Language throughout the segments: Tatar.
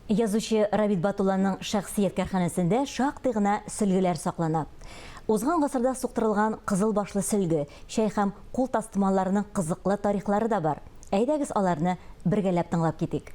Язучы Рабит Батулланың шәхсият кәрханәсендә шактый гына сөлгеләр саклана. Узган гасырда суктырылган кызыл башлы сөлге, чәй һәм кул тастымалларының кызыклы тарихлары да бар. Әйдәгез аларны бергәләп тыңлап китик.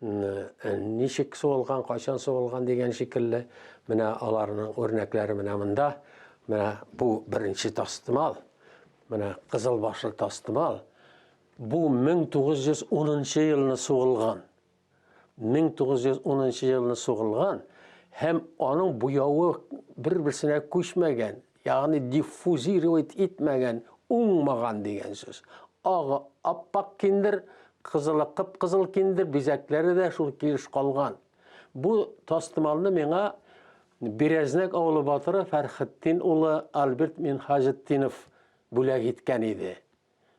Ничек суылган, кайчан суылган дигән шикелле, менә аларның үрнәкләре менә монда. Менә бу беренче тастымал. Менә кызыл башлы тастымал. Бу 1910 елны суылган. 1910 елны суылган һәм аның буявы бер-берсенә күчмәгән, Ягъни диффузировать итмәгән, уңмаган дигән сүз. Агы аппак киндер, кызылы кып-кызыл киндер, бизәкләре дә шул килеш калган. Бу тастымалны миңа Берәзнәк авылы батыры Фәрхетдин улы Альберт Минхаҗетдинов бүләк иткән иде.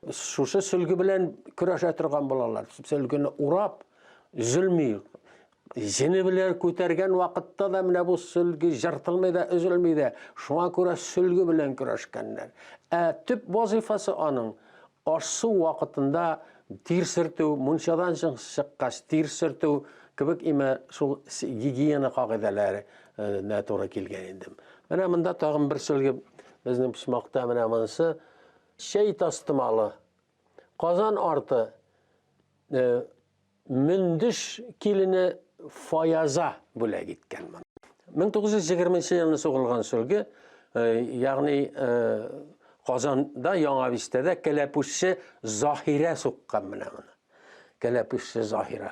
Шушы сөлге белән көрәшә торган булалар. Сөлгене урап, зөлми. Җене белән күтәргән вакытта да менә бу сөлге жыртылмый да, өзелми дә. Шуңа күрә сөлге белән көрәшкәннәр. Ә төп вазифасы аның ашсу вакытында тир сөртү, мунчадан чыккач тир сөртү кебек имә шул гигиена кагыйдәләре туры килгән инде. Менә монда тагын бер сөлге безнең почмакта менә монысы Чәй тастымалы. Казан арты э, Мөндеш килене Фаяза бүләк иткән моны. 1920 елны сугылган сөлге, э, ягъни э, Казанда Яңа Бистәдә кәләпүшче Заһирә суккан менә моны. Кәләпүшче Заһирә.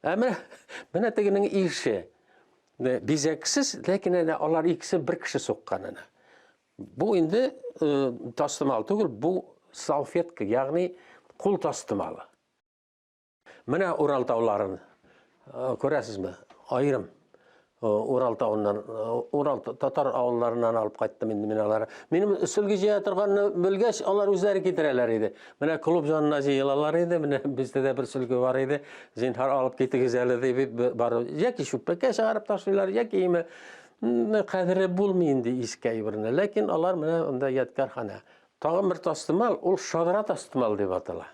Ә менә, менә тегенең ише. Бизәксез, ләкин әнә алар икесе бер кеше суккан әнә. Бу инде э, тастымал түгел, бу салфетка, ягъни кул тастымалы. Менә Урал тауларын э, күрәсезме? Аерым. Урал тауыннан, Урал татар авылларыннан алып кайттым инде мин алар. Минем сөлге җыя торганны белгәч, алар үзләре китерәләр иде. Менә клуб янына җыелалар иде, менә бездә дә бер сөлге бар иде. Зинһар алып китегез әле дип бар. Яки чүппәккә чыгарып ташлыйлар, яки име кадере булмый инде искә ибрне. Ләкин алар менә анда ядкарханә. Тагын бер тастымал, ул шадра тастымал дип атала.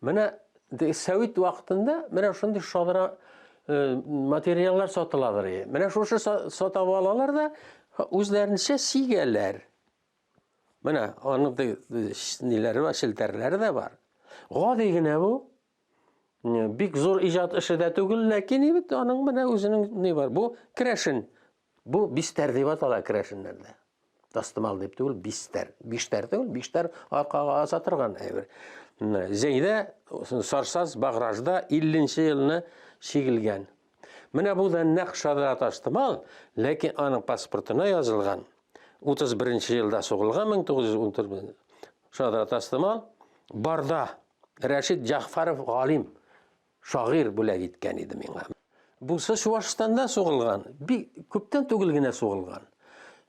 Менә совет вакытында менә шундый шадра э, материаллар сатыладыр. Менә шушы сата алалар да үзләренчә сигәләр. Менә аның ниләре бар, челтәрләре дә бар. Гади генә бу. Бик зур иҗат эше дә түгел, ләкин бит аның менә үзенең ни бар. Бу керәшен Бу бистәр дип атала керәшеннәрдә. Тастымал дип түгел, бистәр. Биштәр түгел, биштәр аркага аса торган әйбер. Зәйдә Сарсаз Багражда 50 елны чигелгән. Менә бу да нәкъ Шадра Тастымал, ләкин аның паспортына язылган 31 елда сугылган 1914 Шадра Тастымал барда Рәшид Җафаров галим Шагыйрь бүләк иткән иде миңа. Бусы Чуашстанда сугылган, бик күптән түгел генә сугылган.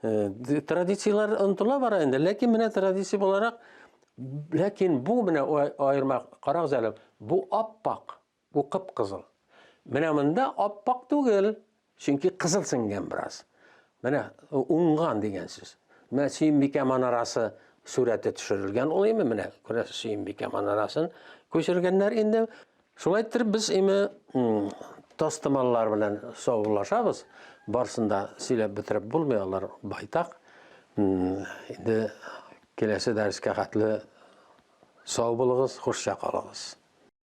Э, традицияләр онтыла бара инде, ләкин менә традиция буларак, ләкин бу менә аерма, карагыз әле, бу аппак, бу кып-кызыл. Менә монда аппак түгел, Чөнки кызыл сеңгән бераз. Менә уңган дигән сүз. Менә Сөембикә манарасы сурәте төшерелгән ул име менә күрәсез Сөембикә манарасын күчергәннәр инде. Шулай итеп без име тастымаллар белән саубуллашабыз. Барсын да сөйләп бетереп булмый алар байтак. Инде киләсе дәрескә хәтле сау булыгыз, хушча калыгыз.